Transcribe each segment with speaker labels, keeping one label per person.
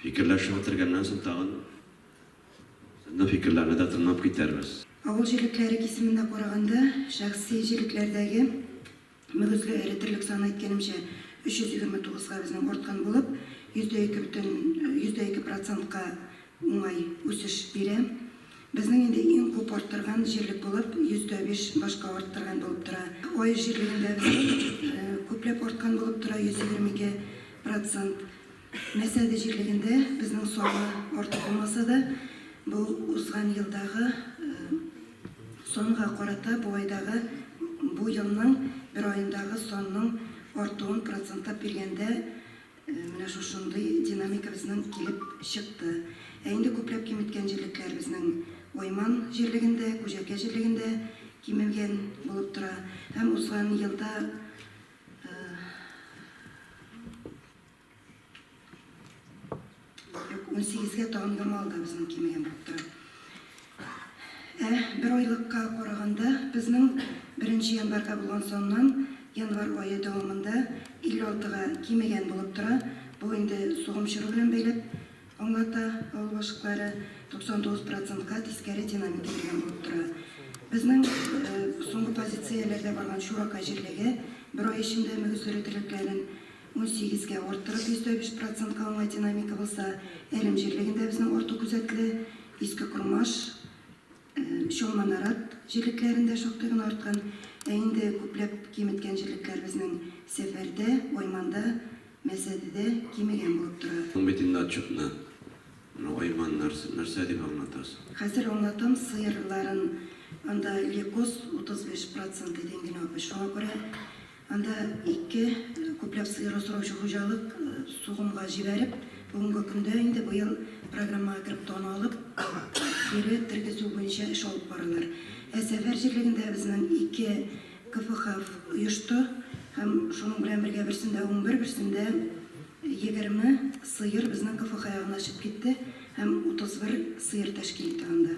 Speaker 1: Фикерләшеп утергәннән соң тагын ны фикерләрне дә тыңлап китәрбез. Авыл җирлекләре
Speaker 2: кисемендә караганда, шәхси җирлекләрдәге мөгезле эретерлек саны, әйткәнемчә, 329 га безнең арткан булып, йөздә ике бөтен йөздә ике процентка уңай үсеш бирә. Безнең инде иң күп арттырган җирлек булып, йөздә биш башка арттырган булып тора. Аеш җирлегендә безнең күпләп арткан булып тора, 122 процент. Нәрсәдә җирлегендә безнең саны артык булмаса да, бу узган елдагы санга карата бу айдагы, бу елның бер аендагы санның артуын процентлап биргәндә, менә шушындый динамика безнең килеп чыкты. Ә инде күпләп киметкән җирлекләр безнең Ойман җирлегендә, Күҗәркә җирлегендә кимегән булып тора. Һәм узган елда, Юк, унсигезгә тагын да мал да безнең кимегән булып тора. Ә бер айлыкка караганда, безнең беренче январьга булган саннан январь ае дәвамында 56 га кимегән булып тора. Бу инде сугым чоры белән бәйләп аңлата, авыл башкалары 99 процентка тискәре динамика килгән булып тора. Безнең соңгы позицияләрдә барган Чуракай җирлеге бер ай эчендә мөгезле өтерекләрен Унсигезгә арттырып, 105 процентка уңай динамика булса, Әрем җирлегендә безнең арту күзәтелә. Иске Кормаш, Чалма Нарат җирлекләрендә шактый гына арткан. Ә инде күпләп киметкән җирлекләр безнең Сәфәрдә, Айманда, Мәсәдедә кимегән булып тора. Соң бит инде отчетны.
Speaker 1: Менә Айман нәрсә, нәрсә дип аңлатасың? Хәзер аңлатам,
Speaker 2: сыерларын. Анда Лекос 35 процент иде, Ингенапы. Шуңа күрә Анда ике күпләп сыер асраучы хуҗалык сугымга җибәреп, бүгенге көндә инде быел программага кереп дан алып, кире тергезү буенча эш алып баралар. Ә Сәфәр җирлегендә безнең ике КФХФ оешты һәм шуның белән бергә берсендә унбер, берсендә егерме сыер безнең КФХ ягына очып китте һәм утызбер сыер тәшкил итә анда.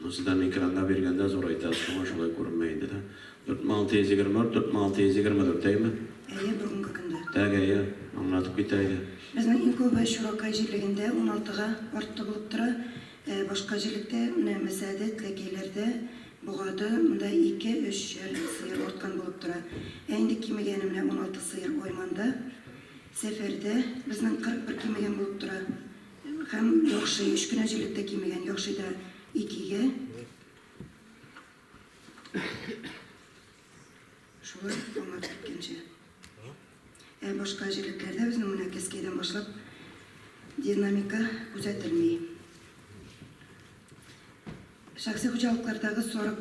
Speaker 1: Монсы да микронга биргәндә зурайта, шуңа шулай күренмә инде, да? 40624, 40624, әйеме? Әйе, бүгенге көндә.
Speaker 2: Тәк әйе,
Speaker 1: аңлатып китә иде. Безнең иң күбе
Speaker 2: Чуракай җирлегендә уналтыга артты булып тора. Ә башка җирлектә, менә Мәсәде, Теләкәйләрдә, Богады, монда ике, өч чәр сыер арткан булып тора. Ә инде кимегәне менә уналты сыер Айманда, Сәфәрдә безнең 41 кимегән булып тора. Һәм яхшый, өч кенә җилек тә кимегән, яхшый да икегә. Шулай аңлап киткәнчә. Ә башка җилекләрдә безнең менә кескәйдән башлап динамика күзәтелми. Шәхси хуҗалыклардагы сарык,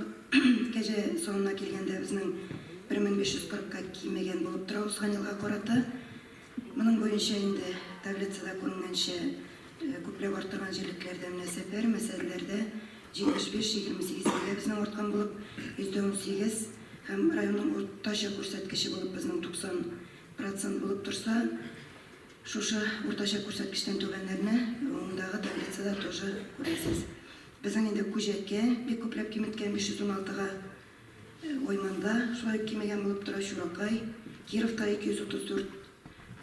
Speaker 2: кәҗә санына килгәндә, безнең 1540 ка кимегән булып тора узган елга карата. Моның буенча инде таблицада күренгәнчә, күпләп арттырган җирлекләрдә менә Сәпәр, Мәсәлләрдә 75-28 кәгә безнең арткан булып, %18, һәм районның уртача күрсәткече булып безнең 90 процент булып торса, Шушы уртача күрсәткечтән түбәннәрне уңдагы таблицада тоже күрәсез. Безнең инде Күҗәккә бик күпләп киметкән, 516 га, Ойманда шулай ук кимегән булып тора, Чуракай, Кировта 234,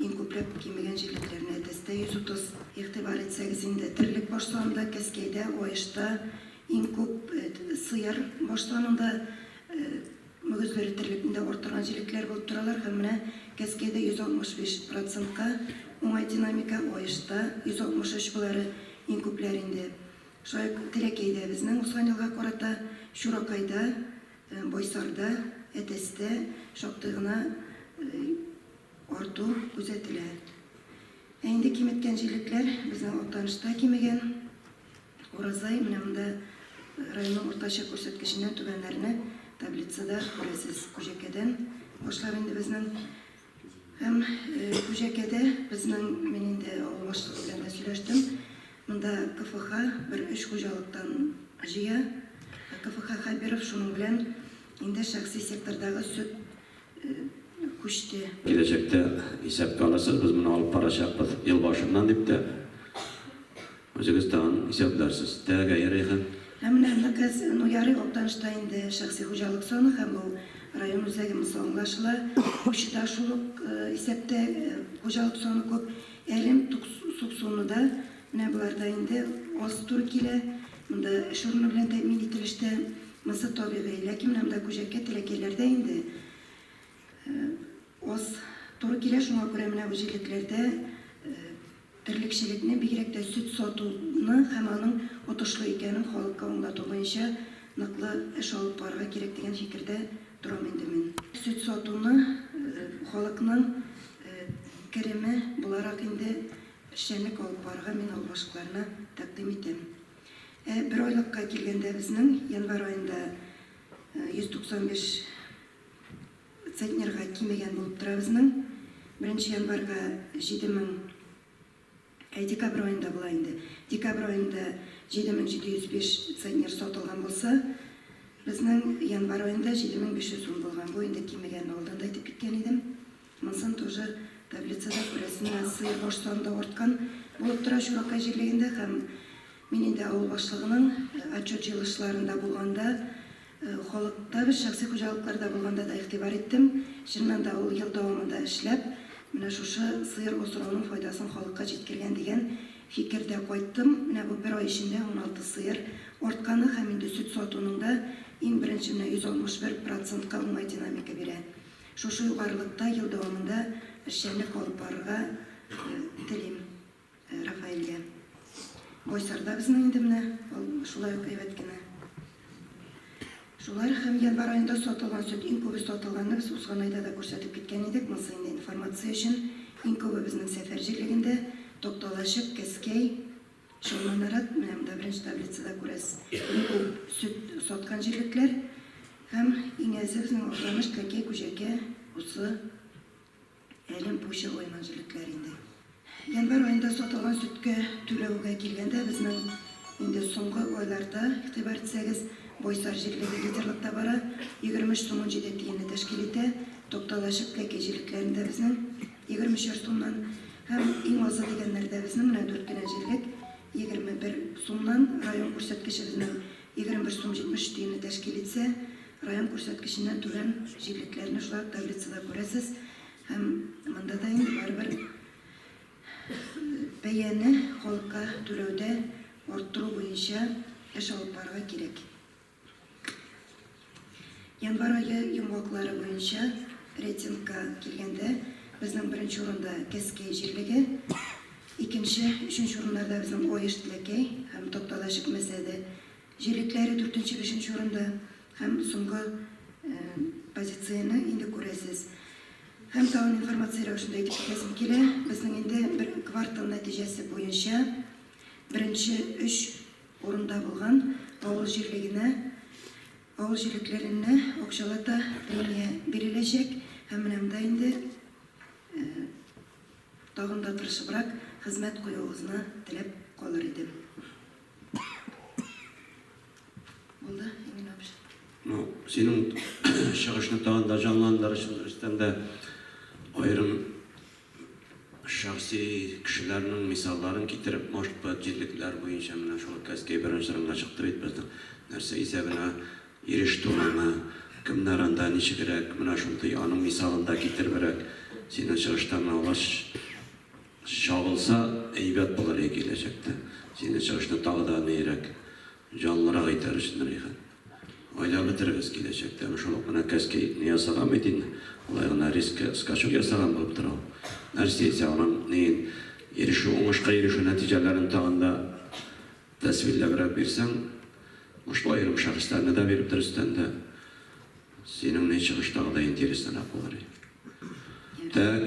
Speaker 2: иң күпләп кимегән җирлекләрне Әтәстә 130. Игътибар итсәгез инде, терлек баш санында Кәскәйдә, Аешта иң күп, сыер баш санында Мөгезләре терлегендә арттырган җилекләр булып торалар һәм менә кәскәйдә 165 процентка уңай динамика, аешта, 163 болары иң күпләр инде. Шулай ук Теләкәйдә безнең узган елга карата, Чуракайда, Байсарда, Әтәстә шактый гына арту күзәтелә. Ә инде киметкән җилекләр безнең Актанышта кимегән. Уразай менә монда районның уртача күрсәткеченнән түбәннәрне таблицада күрәсез. Күҗәкәдән башлап инде безнең һәм Күҗәкәдә безнең мин инде авыл башлыгы белән дә сөйләштем. Монда КФХ бер өч хуҗалыктан җыя. КФХ Хәбиров шуның белән инде шәхси сектордагы сөт күчте. Киләчәктә
Speaker 1: исәпкә алырсыз, без моны алып барачакбыз ел башыннан дип тә. Үзегез тагын исәпдарсыз. Тәгәгәе, Рәйхан? Һәм менә аны кыз,
Speaker 2: ну, ярый, Актанышта инде шәхси хуҗалык саны һәм бу район үзәге, монсы аңлашыла. Кукчыда шул ук исәптә хуҗалык саны күп. Әрем, Тукс, Суксуны да, менә болар да инде аз туры килә. Монда эш урыны белән тәэмин ителеш тә, монсы табигый. Ләкин менә монда Күҗәккә, Теләкәйләр дә инде аз туры килә, шуңа күрә менә бу җирлекләрдә, Терлекчелекне, бигрәк тә сөт сатуны һәм аның отышлы икәнен халыкка аңлату буенча ныклы эш алып барырга кирәк дигән фикердә торам инде мин. Сөт сатуны халыкның кереме буларак инде эшчәнлек алып барырга мин авыл башлыкларына тәкъдим итәм. Ә бер айлыкка килгәндә безнең январь аенда 195 Центнерга кимегән булып тора безнең. Беренче январьга 7000, әй, декабрь аенда була инде. Декабрь аенда 7705 центнер сатылган булса, безнең январь аенда 7500 сум булган. Бу инде кимегән, алдан да әйтеп киткән идем. Монысын тоже таблицада күрәсенә, сыер баш саны да арткан булып тора Чуракай җирлегендә һәм Мин инде авыл башлыгының отчет җыелышларында булганда, халыкта без шәхси хуҗалыкларда булганда да игътибар иттем. Чыннан да, ул ел дәвамында эшләп, менә шушы сыер асрауның файдасын халыкка җиткергән дигән фикердә кайттым. Менә бу бер ай эчендә уналты сыер артканы һәм инде сөт сатуның да иң беренче менә 161 процентка уңай динамика бирә. Шушы югарылыкта ел дәвамында эшчәнлек алып барырга телим. Рафаэльгә. Байсар да безнең инде менә, ул шулай ук әйбәт кенә. Шулар һәм январь аенда сатылган сөт иң күбе сатылганны без узган айда да күрсәтеп киткән идек, монысы инде информация өчен. Иң күбе безнең Сәфәр җирлегендә, Токталачык, Кәскәй, Шоманарат, менә монда беренче таблицада күрәсез, иң күп сөт саткан җирлекләр һәм иң әзе безнең Актаныш, Кәкәй, Күҗәкә, Усы, Әлем пуча ойма җелекләр инде. Январь аенда сатылган сөткә түләүгә килгәндә, безнең инде соңгы айларда, игътибар итсәгез, Бойсар җирлеге лидерлыкта бара, 23 сум унҗиде тиенне тәшкил итә, Токталачык, Тәки җилекләрендә безнең, 23 сумнан, һәм иң азы дигәннәрдә безнең, менә дүрт кенә җирлек, 21 сумнан, район күрсәткече безнең, 21 сум 70 тиенне тәшкил итсә, район күрсәткеченнән түбән җирлекләрне шулай ук таблицада күрәсез һәм монда да инде барыбер бәяне халыкка түләүдә арттыру буенча эш алып барырга кирәк. Январь ае йомгаклары буенча рейтингка килгәндә, безнең беренче урында Кәскәй җирлеге, икенче, өченче урыннарда безнең Оеш, Тләкәй һәм Токтала чикмәсә дә, җирлекләре дүртенче, бишенче урында һәм соңгы позицияне инде күрәсез. Һәм тагын информация рәвешендә әйтеп китәсем килә, безнең инде бер квартал нәтиҗәсе буенча беренче өч Урында булган авыл җирлегенә, авыл җирлекләренә акчалата премия биреләчәк һәм менә монда инде тагын да тырышыбрак хезмәт куюыгызны теләп калыр идем. Булды, Эмиль абыш. Ну, синең
Speaker 1: чыгышны тагын да җанландырыш рәвештән дә аерым Шәхси кешеләрнең мисалларын китереп, может быть, җирлекләр буенча менә шул Каспий беренче урынга чыкты бит безнең. Нәрсә исәбенә иреште ул аңа? Кемнәр анда ничегрәк? Менә шундый аның мисалын да китеребрәк синең чыгышта менә алар чагылса әйбәт булыр иде киләчәктә. Синең чыгышны тагы да ниерәк Җанлырак әйтәр өчен Рәйхан. Гаилә бетерегез киләчәктә. Әмма шул ук энекәш кәефне ясаган бит инде. Алай гына рискка скачок ясаган булып тора ул. Нәрсә исә аның неен ирешү, уңышка ирешү нәтиҗәләрен тагын да тәсвилләбрәк бирсәң, ушлы аерым шәхесләрне дә биреп дөрестән дә, синең не чыгыштагыдай интересныйрак булыр иде. Тәк.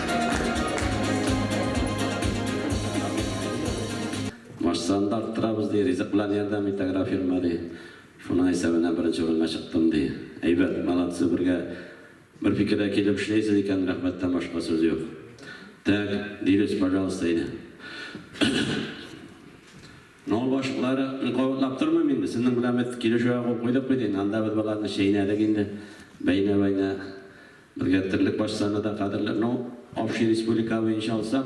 Speaker 1: Машинаны да арттырабыз, ди. Ризык белән ярдәм итә агрофирма, ди. Шуның исәбенә беренче урынга чыктым, ди. Әйбәт, молодцы, бергә бер фикергә килеп эшләйсез икән, рәхмәттән башка сүз юк. Так, дилүс, пожалуйста, әйдә. Авыл башлыклары кабатлап тормыйм инде. Сезнең белән без килешүгә кул куйдык бит инде. Анда без боларны чәйнәдек инде. Бәйнә-бәйнә Безгә терлек баш саны да кадерле. Ну, общий республика буенча алсак,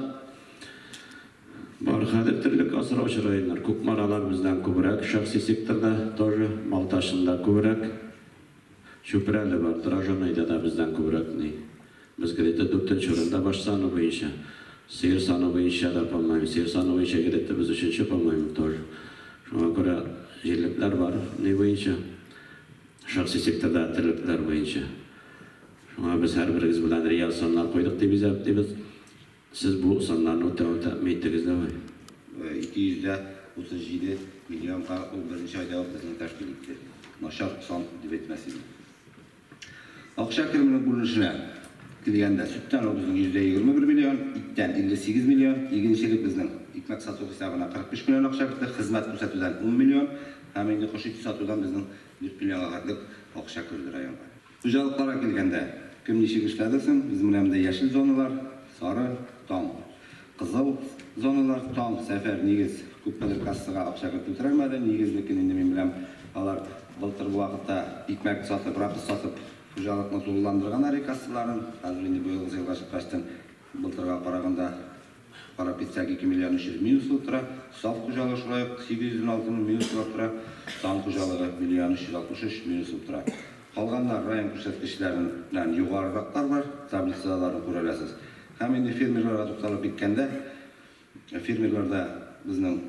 Speaker 1: бар хәзер терлек асраучы районнар. Кукмаралар бездән күбрәк, шәхси секторда тоже, Балтачны да күбрәк. Чүпрәле бар, Дрожаныйда да бездән күбрәк ни. Без где-то дүртенче урында баш саны буенча. Сыер саны буенча да, по-моему, сыер саны буенча где-то без өченче, по-моему, тоже. Шуңа күрә җирлекләр бар ни буенча. Шәхси секторда терлекләр буенча. Шуңа без һәрберегез белән реаль саннар куйдык дип исәплибез. Сез бу саннарны үтәвен тәэмин иттегез дәме? 237
Speaker 3: миллионга ул беренче айда ук безне тәшкил итте. Начар сан дип әйтмәс идем. Акча кеременең күренешенә килгәндә, сөттән ул безнең 21 миллион, иттән 58 миллион, игенчелек безнең икмәк сату хисабына 45 миллион акча керде, хезмәт күрсәтүдән 10 миллион, Һәм инде кош ите сатудан безнең дүрт миллион агарлык акча керде районга. Хуҗалыкларга килгәндә, кем ничек эшләде соң? Без менә монда яшел зоналар, сары, таң. Кызыл зоналар, таң. Сәфәр, нигез, күпмедер кассага акча кертеп терәлмәде. Нигезлекен инде мин беләм, алар былтыр бу вакытта икмәк сатып, рапс сатып, хуҗалыкны тулыландырганнар ир кассаларын. Хәзер инде быелгысы елга чыккачтын, Былтырга караганда карап китсәк, 2 миллиард 300 мең сум тора. Саф хуҗалык шулай ук 816 мең мең сумлап тора. Таң хуҗалыгы, миллиард 363 мең сум тора. Калганнар район күрсәткечләреннән югарырактар бар, таблицаларны күрә аласыз. Һәм инде фермерларга тукталып киткәндә, фермерларда безнең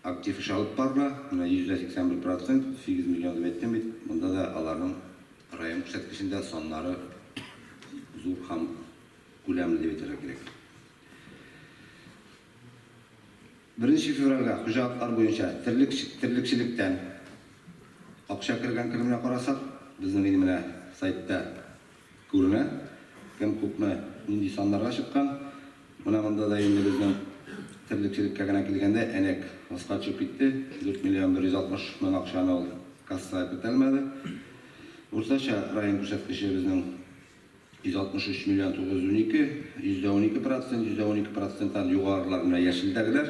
Speaker 3: актив эш алып барыла, менә йөздә 81 процент, 8 миллион дип әйттем бит, монда да аларның район күрсәткечендә саннары зур һәм Күләмен дип әйтергә кирәк. Беренче февральгә хуҗалыклар буенча терлекчелектән акча кергән кеременә карасак, безнең инде менә сайтта күренә, кем күпме, нинди саннарга чыккан. Менә монда да инде безнең терлекчелеккә генә килгәндә, әнәк аска төшеп китте, 4 миллион 160 мең акчаны ул кассага кертә алмады. Уртача район күрсәткече безнең. 163 миллион 912, %12 процент, %12 проценттан югарырак менә яшелдәгеләр.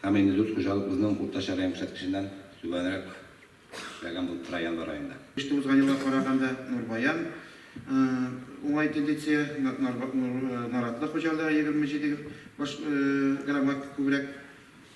Speaker 3: Һәм инде дүрт хуҗалык безнең уртача район күрсәткеченнән түбәнрәк эшләгән булып тора январь аенда. Кышкы узган елга
Speaker 4: караганда Нурбаян уңай тендиция, Наратлы хуҗалыгы 27 баш граммга күбрәк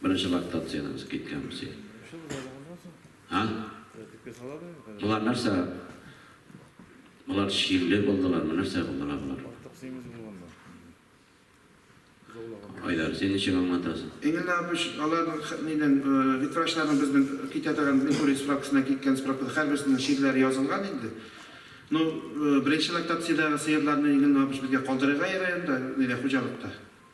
Speaker 1: Беренче лактациядән узып киткәнбез ди. А? Болар нәрсә? Болар чирле булдылар, ме нәрсә булдылар болар? Айдар, син ничек аңлатасың? Энгель Апыч,
Speaker 4: алар нидән, ветврачларның безнең китә торган Меркурий справкасына киткән справкада һәрберсенең чирләре язылган инде. Ну, беренче лактациядәге сыерларны Энгель Апыч безгә калдырырга ярый анда, нидә, хуҗалыкта.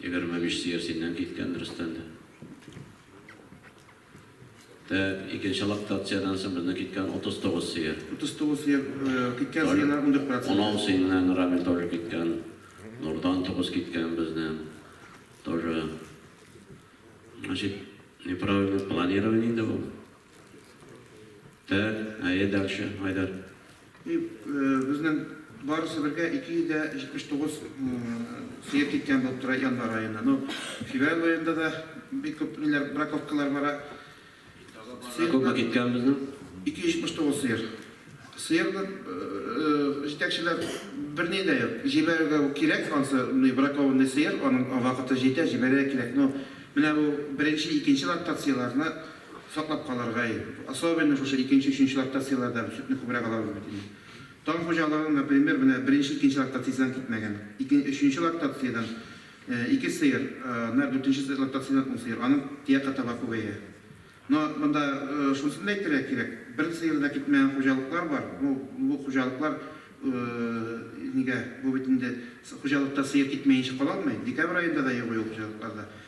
Speaker 1: Егерме биш сыер синнән киткән, дөрестән дә. Тә, икенче лактациядән соң безнең киткән утыз тугыз сыер. Утыз тугыз сыер,
Speaker 4: киткән Тол- сыерлар ундүрт процент. Унау синнән,
Speaker 1: Рамил, тоже киткән. Нурдан тугыз киткән безнең. Тоже. Значит, неправильное планирование инде бу. Так, әйе, дальше, Айдар. И
Speaker 4: безнең барысы бергә 279 сыер киткән булып тора январь аенда. Ну, февраль аенда да бик күп ниләр, браковкалар бара.
Speaker 1: Күпме киткән безнең? 279
Speaker 4: сыер. Сыерны җитәкчеләр берни дә юк. Җибәрергә кирәк, ансы бракованный сыер, аның вакыты җитә, җибәрергә кирәк. Но менә бу беренче, икенче лактацияләрне Саклап калырга иде. Особенно шушы икенче, өченче лактацияләрдән сөтне күбрәк алабыз бит инде. Таң хуҗалыгы, например, менә беренче, икенче лактациядән китмәгән. Ике, өченче лактациядән ике сыер, нар дүртенче лактациядән ун сыер. Аның тиякы таба күбәя. Но монда шунысын да әйтергә кирәк, бер сыеры да китмәгән хуҗалыклар бар. Ну, бу хуҗалыклар нигә, бу бит инде хуҗалыкта сыер китмәенчә кала алмый. Декабрь аенда да юк ул хуҗалыкларда.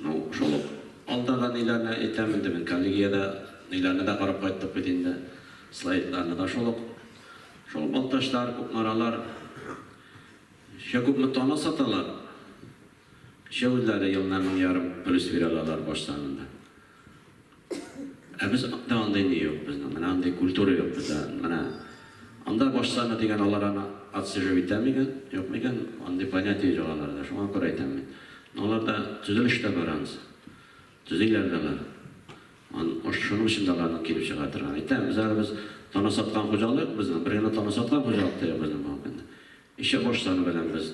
Speaker 1: Ну, шул ук алдагы ниләрне әйтәм инде мин, коллегиядә ниләрне дә карап кайттык бит инде, слайдларны да шул ук. Шул Балтачлар, Кукмаралар чә күпме тонна саталар? Чә үзләре елына мең ярым плюс бирә алалар баш санында. Ә без анда андый ни юк безнең, менә андый культура юк бездә, менә анда баш саны дигән алар аны отсиживать итә микән, юк микән, андый понятие юк аларда, шуңа күрә әйтәм мин. Но аларда төзелеш тә бар анысы, төзиләр дә алар. Может шуның өчен дә аларның килеп чыга торган. Әйтәм, без әле без тана саткан хуҗалык юк безнең, бер генә тана саткан хуҗалык та юк безнең бүгенге көндә. Ничә баш саны белән без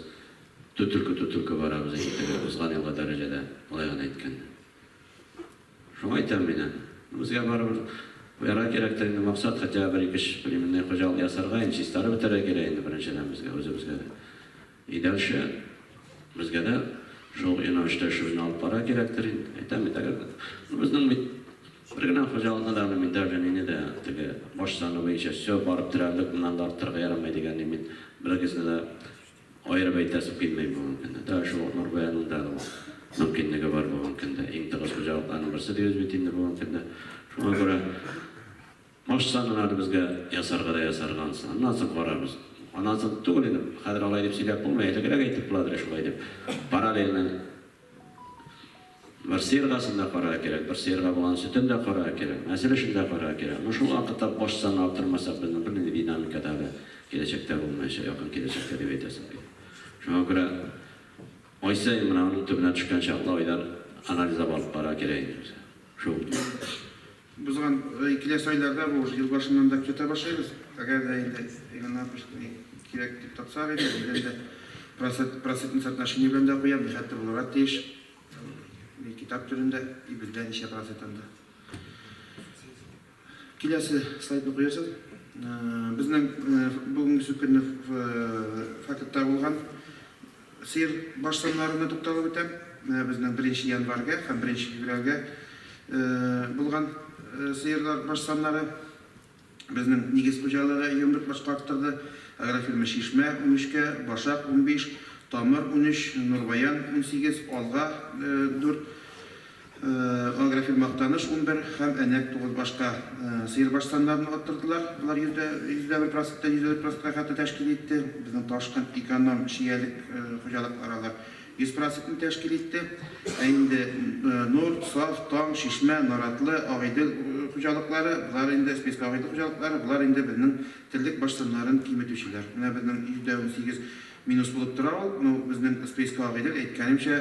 Speaker 1: төтелке-төтелке барабыз инде теге узган елгы дәрәҗәдә, болай гына әйткәндә. Шуңа әйтәм мин аны. Безгә барыбер куярга кирәк тә инде максат, хотя бер ике эш племенный хуҗалык ясарга, инде чистарып бетәргә кирәк инде беренчедән безгә, үзебезгә дә. И дальше безгә дә шул юнәлештә эшебезне алып барырга кирәктер инде. Әйтәм бит, әгәр дә ну безнең бит бер генә хуҗалыкны да аны мин даже мине дә теге баш саны буенча всё барып терәрлек, моннан да арттырырга ярамый дигәнне мин берегезне дә Аерып әйтәсе килмәй бу аңкыны. Тагы шул ук Нурбаянның да ул мөмкинлеге бар бу аңкыда. Иң тыгыз хуҗалыкларның берсе дибез бит инде бу аңкыда. Шуңа күрә башта гына аны безгә ясарга да ясарга ансы. Аннан соң карарбыз. Аннан соң түгел инде, хәзер алай дип сөйләп булмый, әлегрәк әйтеп буладыр шулай дип. Паралельно. Бер сыерга сын да карарга кирәк, бер сыерга баланың сөтен дә карарга кирәк, нәсел эшен дә карарга кирәк. Менә шул вакытта баш санны арттырмасак, безнең бернинди динамика да әле киләчәктә булмаячак, якын киләчәктә дип әйтәсем килә. Шуңа күрә ай саен менә аның төбенә төшкәнче аклы айлар анализлап алып карарга кирәк инде безгә. Шул.
Speaker 4: Узган киләсе айларда бу уже ел башыннан да көзәтә башлыйбыз. Әгәр дә инде Иван Маркович кирәк дип тапсак иде, ул белән дә процентный соотношение белән дә куям, нихәтле булырга тиеш. Ул китап төрендә и бездә ничә процент анда. Киләсе слайдны куерсыз. Безнең бүгенге сүкенне факетта булган. Сыер баш саннарына тукталып үтәм. Менә безнең беренче январьгә һәм беренче февральгә булган сыерлар баш саннары. Безнең нигез хуҗалыгы Йомрык башка арттырды. Агрофирма Чишмә, унөчкә, Башак, унбиш, Тамыр, унөч, Нурбаян, унсигез, Алга, дүрт, Агрофирм Актаныш унбер һәм Әнәк тугыз башка сыер баштаннарын арттырдылар. Болар йөздә йөздә бер проценттан йөз дә дүрт процентка хәтле тәшкил итте. Безнең Ташкент эконом чиялек хуҗалыклары алар йөз процентны тәшкил итте. Ә инде Нур, Саф, Таң, Чишмә, Наратлы, Агыйдел хуҗалыклары, болар инде спеска Агыйдел хуҗалыклары, болар инде безнең терлек баштаннарын киметүчеләр. Менә безнең йөздә унсигез минус булып тора ул. Ну, безнең спеска Агыйдел, әйткәнемчә,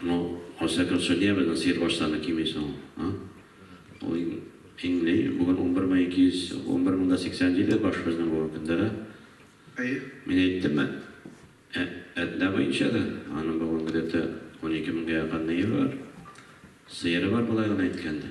Speaker 1: Ну, во всяком суде вы на свет ваш саны кими соң, а? Ул ин, иңли, бүген унбер мең ике йөз, унбер мең дә сиксән җиде баш безнең бүген көндә дә. Әйе.
Speaker 4: Мин әйттем бит,
Speaker 1: ә, әтнә буенча да, аның бүген где-то унике меңгә якын ние бар, сыеры бар, болай гына әйткәндә.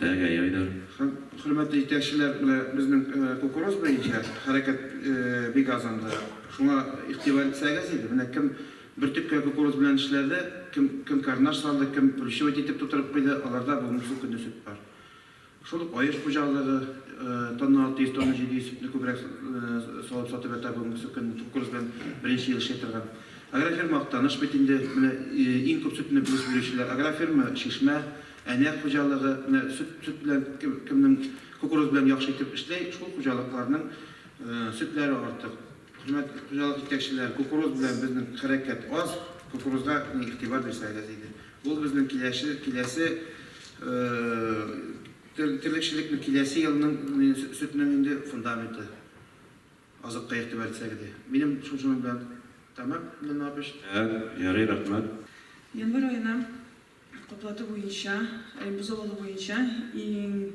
Speaker 1: Әгәй, Айдар. Һәм хөрмәтле
Speaker 4: җитәкчеләр, менә безнең кукуруз буенча хәрәкәт бик аз анда. Шуңа игътибар итсәгез иде. Менә кем бөртеккә кукуруз белән эшләде, кем кем карнаш салды, кем плющевать итеп тутырып куйды, аларда бүгенге көнне сөт бар. Шул ук Аеш хуҗалыгы тонна 600, тонна 700 сөтне күбрәк салып сатып ята бүгенге көнне кукуруз белән беренче ел эшли торган. Агрофирма Актаныш бит инде, менә иң күп сөтне без бирүчеләр. Агрофирма Чишмә, Әнә хуҗалыгы, менә сөт сөт белән кемнең кукуруз белән яхшы итеп эшли, шул хуҗалыкларның сөтләре артык. Хөрмәт хуҗалык җитәкчеләр, кукуруз белән безнең хәрәкәт аз, кукурузга гына игътибар бирсәгез иде. Ул безнең киләче киләсе терлекчелекнең киләсе елның сөтнең инде фундаменты. Азыкка игътибар итсәк иде. Минем шуның белән тәмам, Лена апыч. Ә, ярый, рәхмәт.
Speaker 1: Январь аена
Speaker 5: каплату буенча, бозау алу буенча иң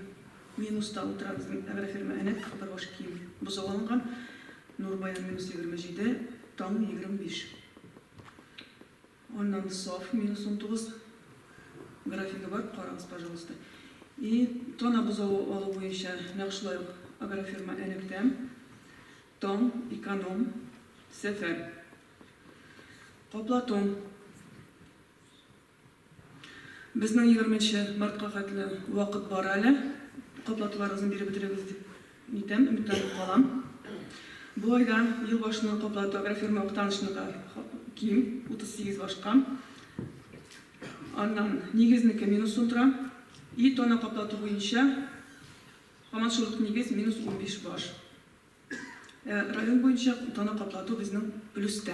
Speaker 5: минуста утыра безнең агрофирма Әнәт, Капырбаш киң бозау алынган, нур баян минус егерме җиде, таң егерме биш. Аннан саф, минус унтугыз, графигы бар, карагыз, пожалуйста. И тона бозавы алу буенча нәкъ шулай ук агрофирма Энектәм, Тон, Эконом, Сәфәр. Каплатун. Безнең егерменче мартка хәтле вакыт бар әле, каплатуларыгызны биреп бетерегез дип. Нидән өметләнеп калам? Бу айда ел башына каплату агрофирма Актанышныкы ким, 38 башка. Аннан Нигезнеке минус сум тора. И тона каплату буенча һаман шул ук Нигез минус 15 баш. Район буенча тона каплату безнең плюста.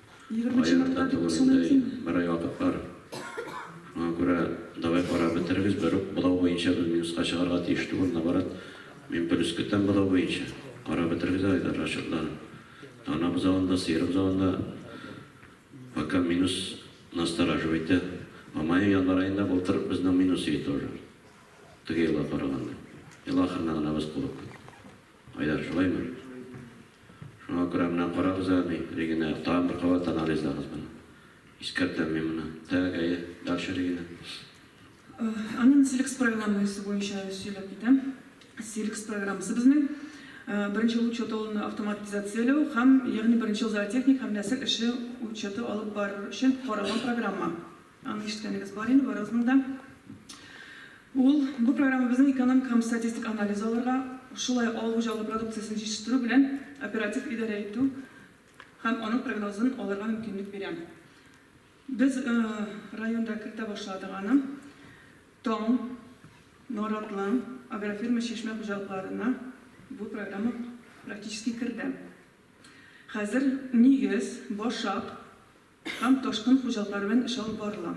Speaker 1: Аякта торырдай берай вакыт бар. Моңа күрә давай карап бетерегез, бер үк бозау буенча без минуска чыгарга тиеш түгел, наоборот, мин плюс көтәм бозау буенча. Карап бетерегез әле дә расчетларын. Тана бозавын да, сыер бозавын да пока минус настораживайте. Ә мае, январь аенда былтыр безнең минус иде тоже. Теге елга караганда. Ел ахырына гына без кубып киттек. Айдар, шулаймы? Шуңа күрә менә карагыз әле, Регина, тагын бер кабат анализлагыз моны. Искәртәм мин моны. Так, әйе, дальше, Регина.
Speaker 5: Аннан Силкс программасы буенча сөйләп китәм. Силкс программасы безнең беренче ел учеты ул автоматизацияләү һәм, ягъни беренче ел зоотехник һәм нәсел эше учеты алып барыр өчен каралган программа. Аны ишеткәнегез бар инде барыгызның да. Ул, бу программа безнең экономик һәм статистик анализ алырга, шулай ук авыл хуҗалыгы продукциясен җитештерү белән оператив идарә итү һәм аның прогнозын алырга мөмкинлек бирә. Без районда кертә башладык аны. Таң, Наратлы агрофирма чишмә хуҗалыкларына бу программа практически керде. Хәзер нигез, башак, Һәм ташкын хуҗалыклары белән эш алып барыла.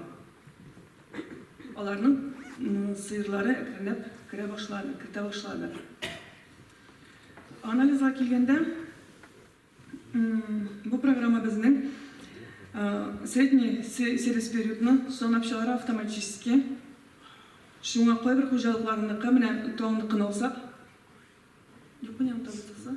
Speaker 5: Аларның сыерлары әкренләп керә башлады, кертә башлады. Анализга килгәндә, бу программа безнең средний сервис периодны санап чыгара автоматически. Шуңа кайбер хуҗалыкларныкы, менә Тау ныкын алсак, Японияныкы тотса.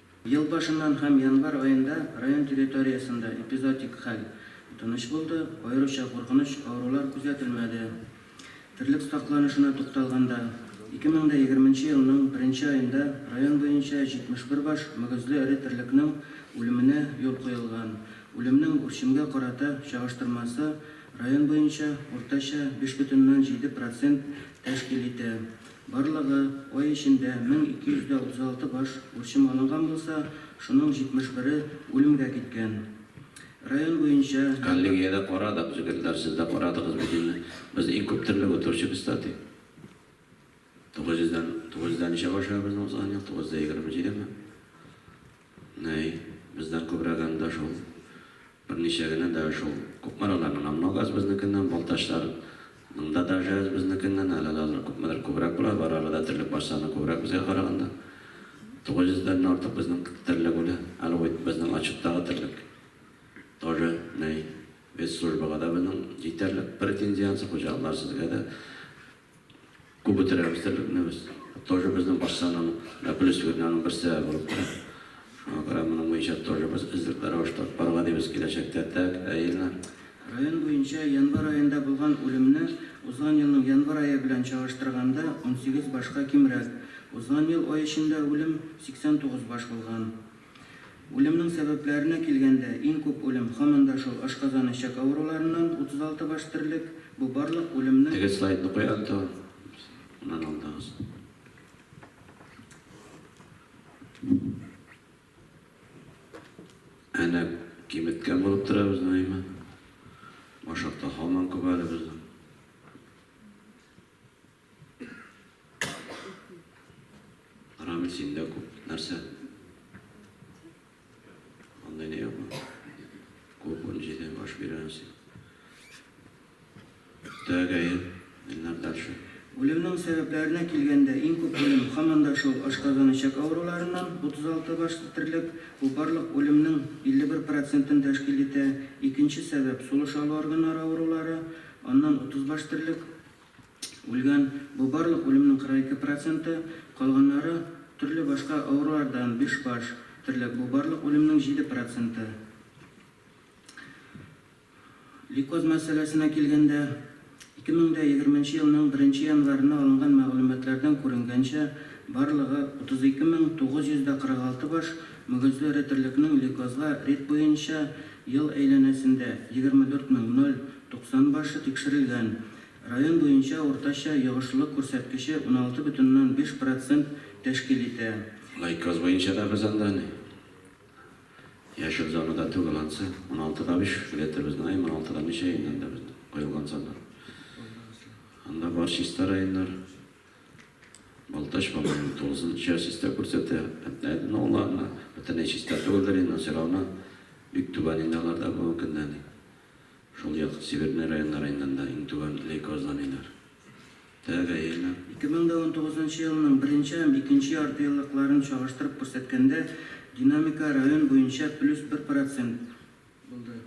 Speaker 5: Ел
Speaker 6: башыннан һәм январь аенда район территориясендә эпизоотик хәл тыныч булды, аеруча куркыныч авырулар күзәтелмәде. Терлек сакланышына тукталганда, 2020 нче елның беренче аенда район буенча 71 баш мөгезле эре терлекнең үлеменә юл куелган, үлемнең үрчемгә карата чагыштырмасы район буенча уртача 5,7 процент тәшкил итә. Барлыгы ай эчендә 1236 баш үрчем алынган булса, шуның 71-е үлемгә киткән. Район буенча. Коллегиядә карадык,
Speaker 1: җегетләр, сез дә карадыгыз бит инде. Без иң күп терлек утыручыбыз та, ди. 900 дән, 900 дә ничәгә ашыга безнең узган ел? 927 ме? Ней, бездән күбрәк анда шул. Берничә генә дә шул. Күпмер алар мына Ногаз безнекеннән, Балтачлар ның да даже әз безнекеннән, әле дә алар күпмедер күбрәк була, бар арада терлек бар саны күбрәк безгә караганда. Тугыз йөз дән артык безнең терлек үлә. Әле уйт безнең отчеттагы терлек. Тоже, ней, вес службага да безнең җитәрлек. Претензиянсе хуҗалыклар сезгә дә. Күп үтерәбез терлекне без. Тоже безнең бакчаның плюс фигуренең бер сәбәбе булып тора. Шуңа күрә моның буенча тоже без эзлекле рәвештә алып барырга дибез киләчәктә. Так, ә Ильнар? Район буенча
Speaker 6: январь аенда булган үлемне узган елның январь ае белән чагыштырганда унсигез башка кимрәк. Узган ел ай эчендә үлем 89 баш булган. Үлемнең сәбәпләренә килгәндә, иң күп үлем, һаман да шул, ашказан, эчәк авыруларыннан, 36 баш терлек. Бу барлык үлемне. Теге слайдны куй, Антон.
Speaker 1: Моннан алдагысы. Әнә, киметкән булып тора безнең Айман. Башакта һаман күп әле безнең. Рамил, синдә күп нәрсә. Андый не юк. Күп он җиде баш бирәнсең. Тәгәй, миннәр дальше. Үлемнең
Speaker 6: сәбәпләренә килгәндә, иң күп үлем, һаман да шул, ашказан-эчәк авыруларыннан, 36 баш терлек, бу барлык үлемнең 51 процентын тәшкил итә, икенче сәбәп, сулыш алу органнары авырулары, аннан 30 баш терлек, үлгән, бу барлык үлемнең 42 проценты, калганнары, төрле башка авырулардан, биш баш, терлек, бу барлык үлемнең 7 проценты. Лейкоз мәсьәләсенә килгәндә, 2020 нче елның беренче январына алынган мәгълүматлардан күренгәнчә, барлыгы 32946 баш мөгезле эре терлекнең лейкозга рет буенча ел әйләнәсендә 24 мең 0 90 башы тикшерелгән. Район буенча уртача йогышлылык күрсәткече 16,5 процент тәшкил итә. Лайкоз буенча
Speaker 1: да без анда ни, яшел зонада түгел ансы. Уналты да биш билеты без знаем, уналты да ничә инде анда без куелган саннар. Анда бар чиста районнар. Балтач, по-моему, тулысынча чиста күрсәтә. Әтнә, ну, ладно, бөтенләй чиста түгелдер инде, но всё равно бик түбән инде алар да бүгенге көндә ни. Шул як Северный районнар иннән дә иң түбән лейкозланиеләр дә гаилә.
Speaker 6: 2019 елның беренче һәм икенче яртыеллыкларын чагыштырып күрсәткәндә, динамика район буенча плюс бер процент булды.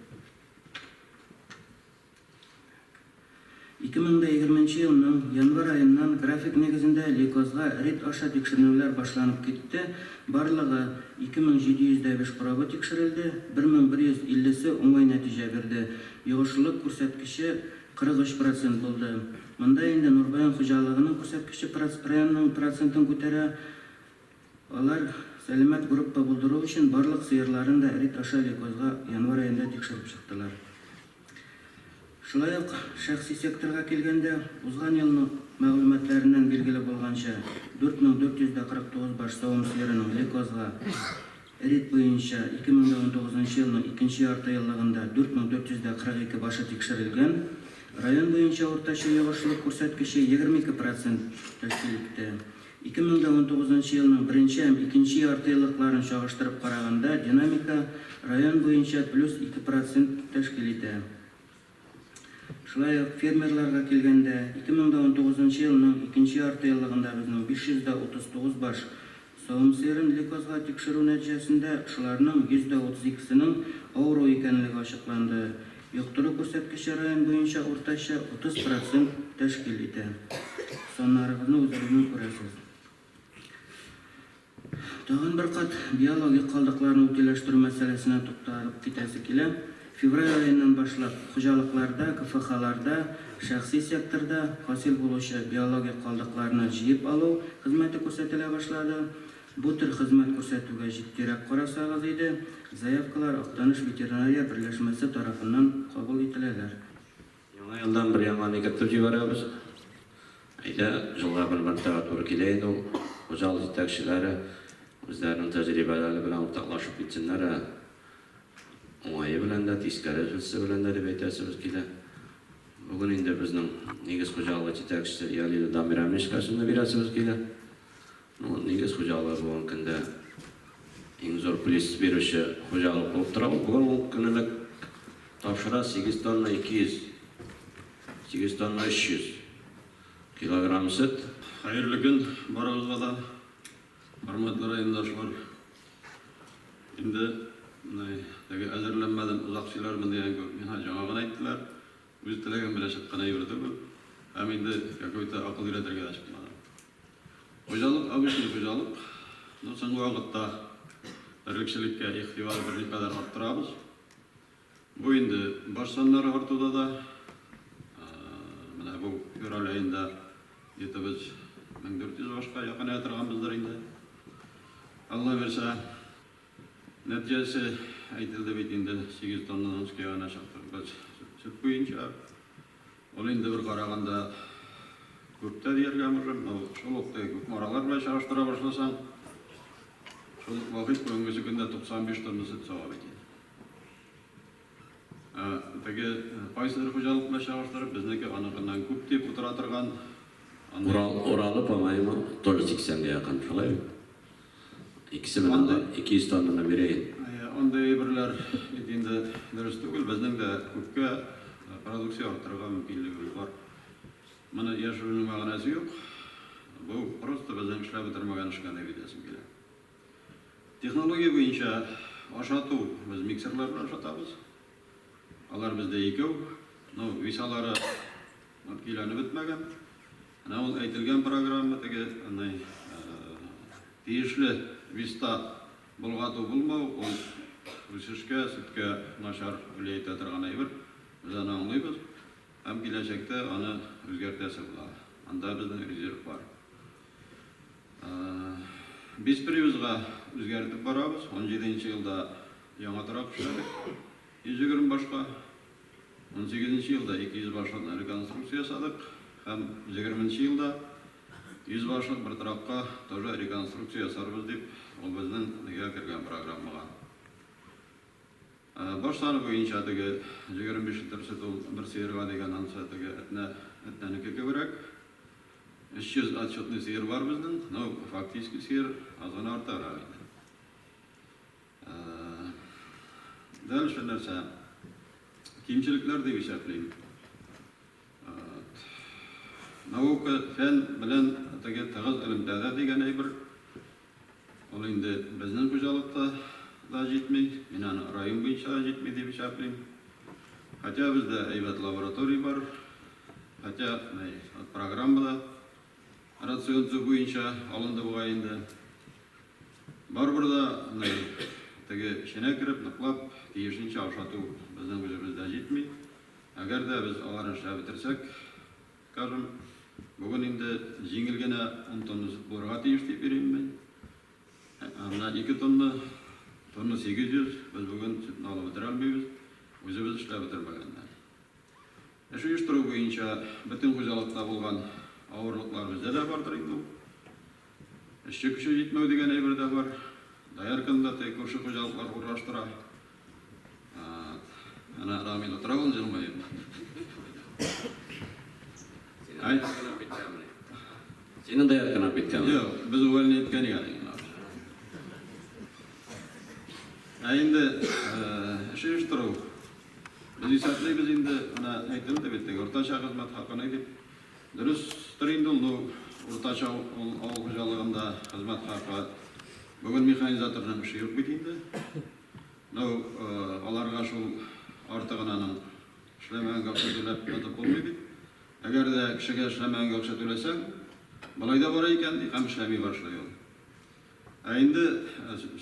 Speaker 6: Ике мең дә егерменче елның январь аеннан график нигезендә Лейкозга рейд аша тикшеренүләр башланып китте, барлыгы 2705 корабы тикшерелде, 1150-се уңай нәтиҗә бирде, йогышлылык күрсәткече 43 процент булды. Монда инде Нурбаян хуҗалыгының күрсәткече районның процентын күтәрә, алар сәламәт группа булдыру өчен барлык сыерларын да рейд аша Лейкозга январь аенда тикшереп чыктылар. Шулай ук, шәхси секторга килгәндә, узган елның мәгълүматларыннан билгеле булганча, 4449 баш савым сыерының Ликозга рид буенча 2019 елның икенче яртыеллыгында 4442 башы тикшерелгән, район буенча уртача йогышлылык күрсәткече 22 процент тәшкил итте. Ике мең дә унтугызынчы елның беренче һәм икенче яртыеллыкларын чагыштырып караганда, динамика район буенча плюс ике процент тәшкил итә. Шулай ук фермерларга килгәндә, ике мең дә унтугызынчы елның икенче яртыеллыгында безнең биш йөз дә утыз тугыз баш савым сыерын лейкозга тикшерү нәтиҗәсендә шуларның йөз дә утыз икесенең авыру икәнлеге ачыкланды, Йоктыру күрсәткече район буенча уртача 30 процент тәшкил итә. Саннарыгызны үзегезнең күрәсез. Тагын бер кат биологик калдыкларны утиләштерү мәсьәләсенә тукталып китәсе килә. Февраль аеннан башлап хуҗалыкларда, КФХларда, шәхси секторда хасил булучы биологик калдыкларны җыеп алу хезмәте күрсәтелә башлады. Бу төр хезмәт күрсәтүгә җитдирәк карасагыз иде, заявкалар Актаныш ветеринария берләшмәсе тарафыннан кабул ителәләр. Яңа
Speaker 1: елдан бер яңаны кертеп җибәрәбез. Әйдә, җылга бер мәртәбә туры килә инде ул. Хуҗалык җитәкчеләре үзләренең тәҗрибәләре белән уртаклашып китсеннәр, ә уңае белән дә, тискәресе белән дә дип әйтәсебез килә. Бүген инде безнең нигез хуҗалыгы җитәкчесе Ялида Дамирәмешкә сүзне бирәсебез килә. Нигез хуҗалыгы бүгенге көндә иң зур плис бирүче хуҗалык булып тора. Ул бүген ун көнлек тапшыра, 8 тонна 200, 8 тонна 300 килограмм сөт. Хәерле көн
Speaker 7: барыгызга да, хөрмәтле райондашлар! Инде менә теге әзерләнмәдем, озак сөйләрмен дигән кебек, миңа җаңа гына әйттеләр. Үз теләгем белән чыккан әйбер түгел. Һәм инде какой-то акыл өйрәтергә дә чыкмадым. Хуҗалык, обычный хуҗалык. Ну, соңгы вакытта терлекчелеккә игътибар берникадәр арттырабыз. Бу инде баш саннары артуда да. Менә бу февраль аенда где-то без 1400 башка якыная торганбыздыр инде. Алла бирсә. Нәтиҗәсе әйтелде бит инде, сигез тоннадан өскә генә чыктык без сөт буенча. Ул инде бер караганда күп тә дияргә мөмкин. Ул шул ук теге Кукмаралар белән чагыштыра башласаң, шул ук вакыт бүгенгесе көндә 95 тонна сөт сава бит инде. Теге кайсыдыр хуҗалыкны чагыштырып, безнеке аныкыннан күп дип утыра торган. Урал,
Speaker 1: Уралы, по-моему, тоже сиксәнгә якын, шулай бит? Икесе белән дә 200 тоннаны бирәен. Андый әйберләр
Speaker 7: бит инде дөрес түгел. Безнең дә күпкә продукция арттырырга мөмкинлегебез бар. Моны яшерүнең мәгънәсе юк. Бу просто безнең эшләп бетермәгән эшкә, дип әйтәсем килә. Технология буенча ашату, без миксерлар белән ашатабыз. Алар бездә икәү. Ну, висалары көйләнеп бетмәгән. Менә ул әйтелгән программа теге аны тиешле виста болгату булмау, ул үсешкә, сөткә начар влиять итә торган әйбер. Без аны аңлыйбыз һәм киләчәктә аны үзгәртәсе була. Анда безнең резерв бар. Без привозга үзгәртеп барабыз. Унҗиде нче елда яңа торак эшләдек, 120 башка. Унсигез нче елда 200 башлыкны реконструкция ясадык һәм егерме нче елда 100 башлык бер торакка тоже реконструкция ясарбыз дип, ул безнең нигә кергән программага. Башлар буенча теге җегерме биш литр сөт ул бер сыерга дигән ансы теге әтнә, әтнәнеке кеберәк. Өч йөз отчетный сыер бар безнең, ну, фактически сыер аз гына артыграк инде. Дальше нәрсә? Кимчелекләр дип исәплим. Наука, фән белән теге тыгыз элемтәдә дигән әйбер, ул инде безнең хуҗалыкта да җитми, мин аны район буенча да җитми дип исәплим. Хотя бездә әйбәт лаборатория бар, хотя программа да рацион төзү буенча алынды бугай инде. Барыбер дә теге эченә кереп, ныклап, тиешенчә ашату безнең үзебездә җитми. Әгәр дә без аларны эшләп бетерсәк, скажем, бүген инде җиңел генә ун тонна сөт булырга тиеш дип йөрим мин. Ә менә ике тонна, тонна 800 без бүген сөтне алып бетерә алмыйбыз, үзебез эшләп бетермәгәннәр. Эш оештыру буенча бөтен хуҗалыкта булган авырлыклар бездә дә бардыр инде ул. Эшче көче җитмәү дигән әйбер дә бар. Доярканы да теге күрше хуҗалыклар урнаштыра. Әнә Рамил утыра ул җылмаеп.
Speaker 1: Синең доярканы биткәнме? Юк, без увольни иткән
Speaker 7: икән инде. Ә инде эш оештыру. Без исәплибез инде, менә әйтелде бит теге уртача хезмәт хакына дип. Дөрестер инде ул, бу уртача авыл хуҗалыгында хезмәт хакы. Бүген механизаторның эше юк бит инде. Ну, аларга шул артыгынаның эшләмәгәнгә акча түләп ятып булмый бит. Әгәр дә кешегә эшләмәгәнгә акча түләсәң, болай да бара икән, ди, һәм эшләми башлый ул. Ә инде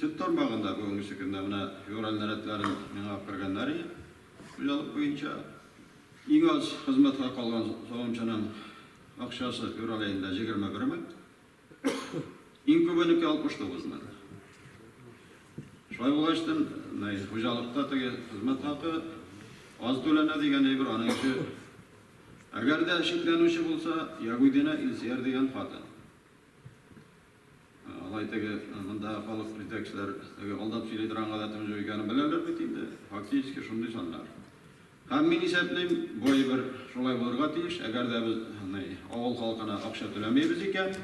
Speaker 7: сөт тармагында бүгенге көндә менә февраль нарядларын миңа кергәннәр иде, хуҗалык буенча. Иң аз хезмәткә калган савымчының акчасы февраль аенда җигерме бер мең, иң күбенеке 69 мең. Шулай булгач тын, мый, хуҗалыкта теге хезмәт хакы аз түләнә дигән әйбер аның ише. Әгәр дә шикләнүче булса, Ягудина Илсияр дигән хатын. Алай теге монда халык җитәкчеләр теге алдап сөйли торган гадәтем юк икәнен беләләр бит инде. Фактически шундый саннар. Һәм мин исәплим, бу әйбер шулай булырга тиеш, әгәр дә без ни, авыл халкына акча түләмибез икән,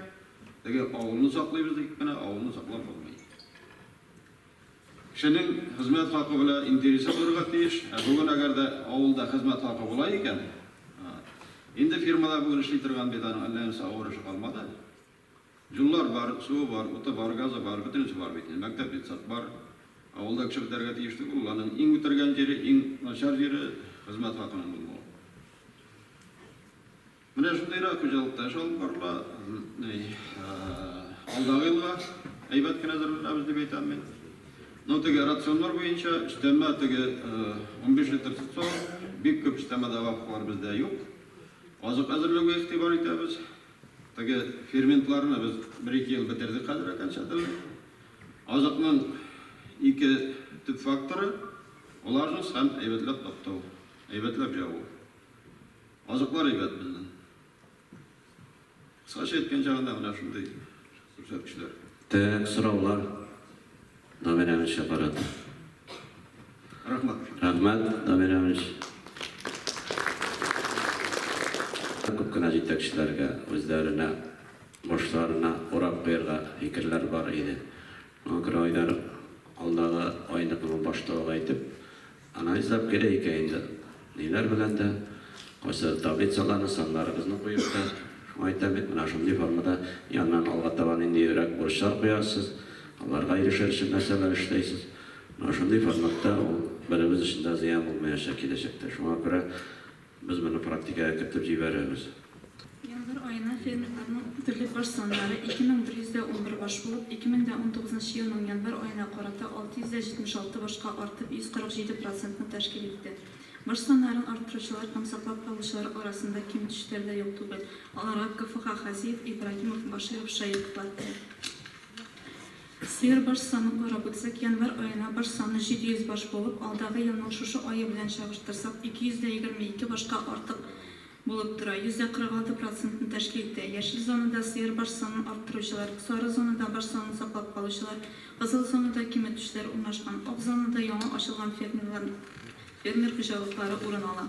Speaker 7: теге авылны саклыйбыз дип кенә авылны саклап булмый. Кешенең хезмәт хакы белән интересы булырга тиеш. Ә бүген әгәр дә авылда хезмәт хакы була икән, инде фирмада бүген эшли торган бит аның әллә нинди авыр эше калмады. Юллар бар, суы бар, уты бар, газы бар, бөтенесе бар бит инде. Мәктәп, детсад бар. Авылда кеше бетәргә тиеш түгел ул. Аның иң үтергән җире, иң начар җире хезмәт хакының булмавы. Менә шундыйрак хуҗалыкта эш алып барыла. Алдагы елга әйбәт кенә әзерләнәбез дип әйтәм мин. Ну, теге рационнар буенча өстәмә теге унбиш литр тотса, бик күп өстәмә добавкалар бездә юк. Азык әзерләүгә игътибар итәбез. Теге ферментларны без бер-ике ел бетердек хәзер окончательно. Азыкның ике төп факторы, влажность һәм әйбәтләп таптау, әйбәтләп җаву. Азыклар әйбәт безнең. Кыскача әйткән чагында менә шундый күрсәткечләр. Төп
Speaker 1: сораулар Дамир Әмирчә карата.
Speaker 7: Рәхмәт. Рәхмәт,
Speaker 1: Дамир Әмирч. Күп кенә җитәкчеләргә үзләренә, башларына урак куярга фикерләр бар иде. Моңа күрә Айдар алдагы айны моның башлыгы итеп Анализлап керәйек ә инде, ниләр белән дә, кайсы таблицаларны, саннарыбызны куеп та, шуңа әйтәм бит, менә шундый формада яннан алга таба ниндирәк бурычлар куярсыз, аларга ирешер өчен нәрсәләр эшләйсез, менә шундый форматта ул беребез өчен дә зыян булмаячак киләчәктә. Шуңа күрә. Без моны практикага кертеп җибәрербез. Январь
Speaker 8: аена фермерларның терлек баш саннары 2111 баш булып, 2019 елның январь аена карата 676 башка артып, 147 процентны тәшкил итте. Баш саннарын арттыручылар һәм саклап калучылар арасында ким-төшләр дә юк түгел, аларга КФХ Хазиев, Ибраһимов, Баширов шаиклыклар итә. Сыер баш санын карап үтсәк, январь аена баш саны 700 баш булып, алдагы елның шушы ае белән чагыштырсак, 222 башка артык булып тора, 46 процентны тәшкил итә. Яшел зонада сыер баш санын арттыручылар, сары зонада баш санын саклап калучылар, кызыл зонада киметүчеләр урнашкан. Ак зонада яңа ачылган фермерлар фермер хуҗалыклары урын ала.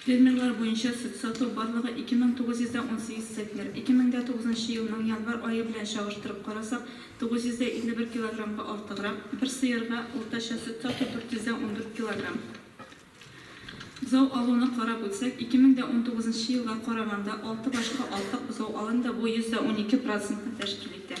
Speaker 8: Фермерлар буенча сөт сату барлыгы 2918 центнер. 2009 елның январь ае белән чагыштырып карасак, 951 килограммга артыграк, бер сыерга уртача сөт сату 414 килограмм. Бозау алуны карап үтсәк, 2019 елга караганда, алты башка артык бозау алынды, бу 112 процентны тәшкил итә.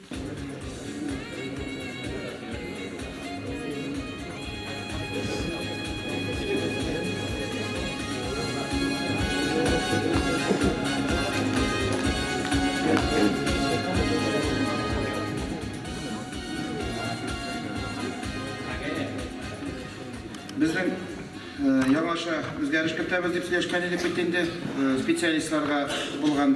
Speaker 4: үзгәреш кертәбез дип сөйләшкән идек бит инде специалистларга булган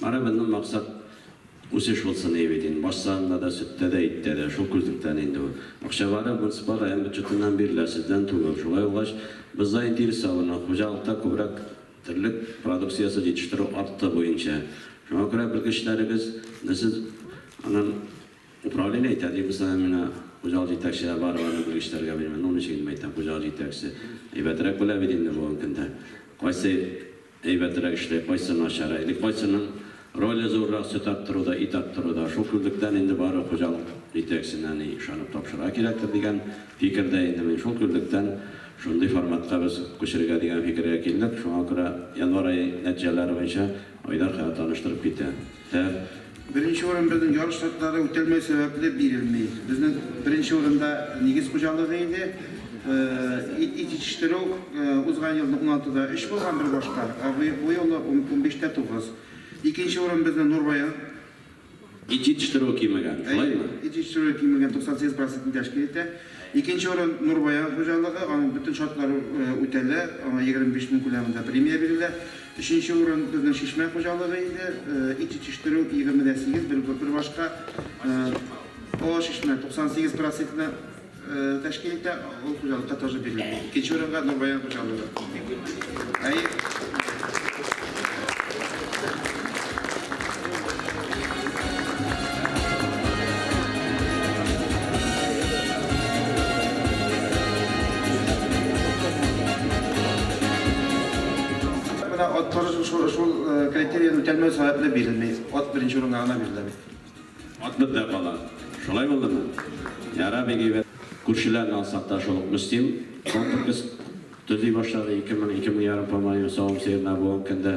Speaker 1: Барыбернын максат үсеш булсын ие бит инде, баш санында да, сөттә дә, иттә дә, шул күзлектән инде бу. Акчалары муниципаль район бюджетыннан бирелә, сездән түгел. Шулай булгач, боздай интерес салына, хуҗалыкта күбрәк терлек продукциясе җитештерү арты буенча. Шуңа күрә белгечләребез не сез анын управление итә ди, без аны менә хуҗалык җитәкчеләр барып аны белгечләргә бирми, ну ничек инде әйтәм, хуҗалык җитәкчесе әйбәтрәк белә бит инде бүгенге көндә, кайсы Әйбәтрәк эшли, кайсы начар. Әле кайсының роле зуррак, сөт арттыру да, ит арттыру да. Шул күзлектән инде бары хуҗалык җитәкчесенә ни ышанып тапшырырга кирәктер дигән фикердә инде мин. Шул күзлектән шундый форматка без күчерергә дигән фикергә килдек. Шуңа күрә январь ае нәтиҗәләре буенча Айдар хәзер таныштырып китә. Тәр.
Speaker 4: Беренче урын безнең ярыш шартлары үтәлмәү сәбәпле бирелми. Безнең беренче урында нигез хуҗалыгы иде. Ит итештерү узган елны уналтыда өч булган бер башка, ә бу юлы унбиштә тугыз. Икенче урын безнең Нурбаян. Ит
Speaker 1: җитештерүе кимегән, шулаймы? Әйе, ит җитештерүе кимегән,
Speaker 4: 98 процентны тәшкил итә. Икенче урын, Нурбаян хуҗалыгы, аның бөтен шартлары үтәлә, аңа 25 мең күләмендә премия бирелә. Өченче урын, безнең Чишмә хуҗалыгы иде, ит җитештерү 20 дә 8, бер башка Олы Чишмә 98 процентны тәшкил итә, ул хуҗалыкка тоже бирелә. Икенче урынга, Нурбаян хуҗалыгы. үтәлмәү сәбәпле бирелми. Ат беренче урынга гына бирелә бит. Ат бездә
Speaker 1: кала. Шулай булдымы? Яра бигәйбәт. Күршеләрне алсак та шул ук Мөслим, Контуркис Төзи башлады, ике мең, ике мең ярым помоин савым сыерына бүгенге көндә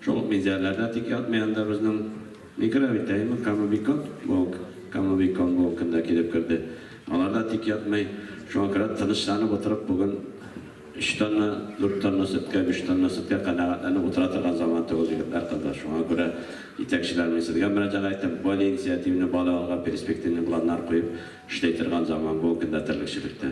Speaker 1: шул ук Миндиәрләрдә тик ятмый анда безнең микроритәймы, Камобикон, бүгенге Камобикон бүгенге көндә килеп керде, аларда тик ятмый, шуңа күрә тынычланып утырып бүген өч тонна, дүрт тонна сөткә, биш тонна сөткә канәгатьләнеп утыра торган заман түгел, егетләр, кызлар, шуңа күрә җитәкчеләр, мин сезгә мөрәҗәгать итәм, более инициативный, бале алга перспективный планнар куеп эшли торган заман бүгенге көндә терлекчелектә.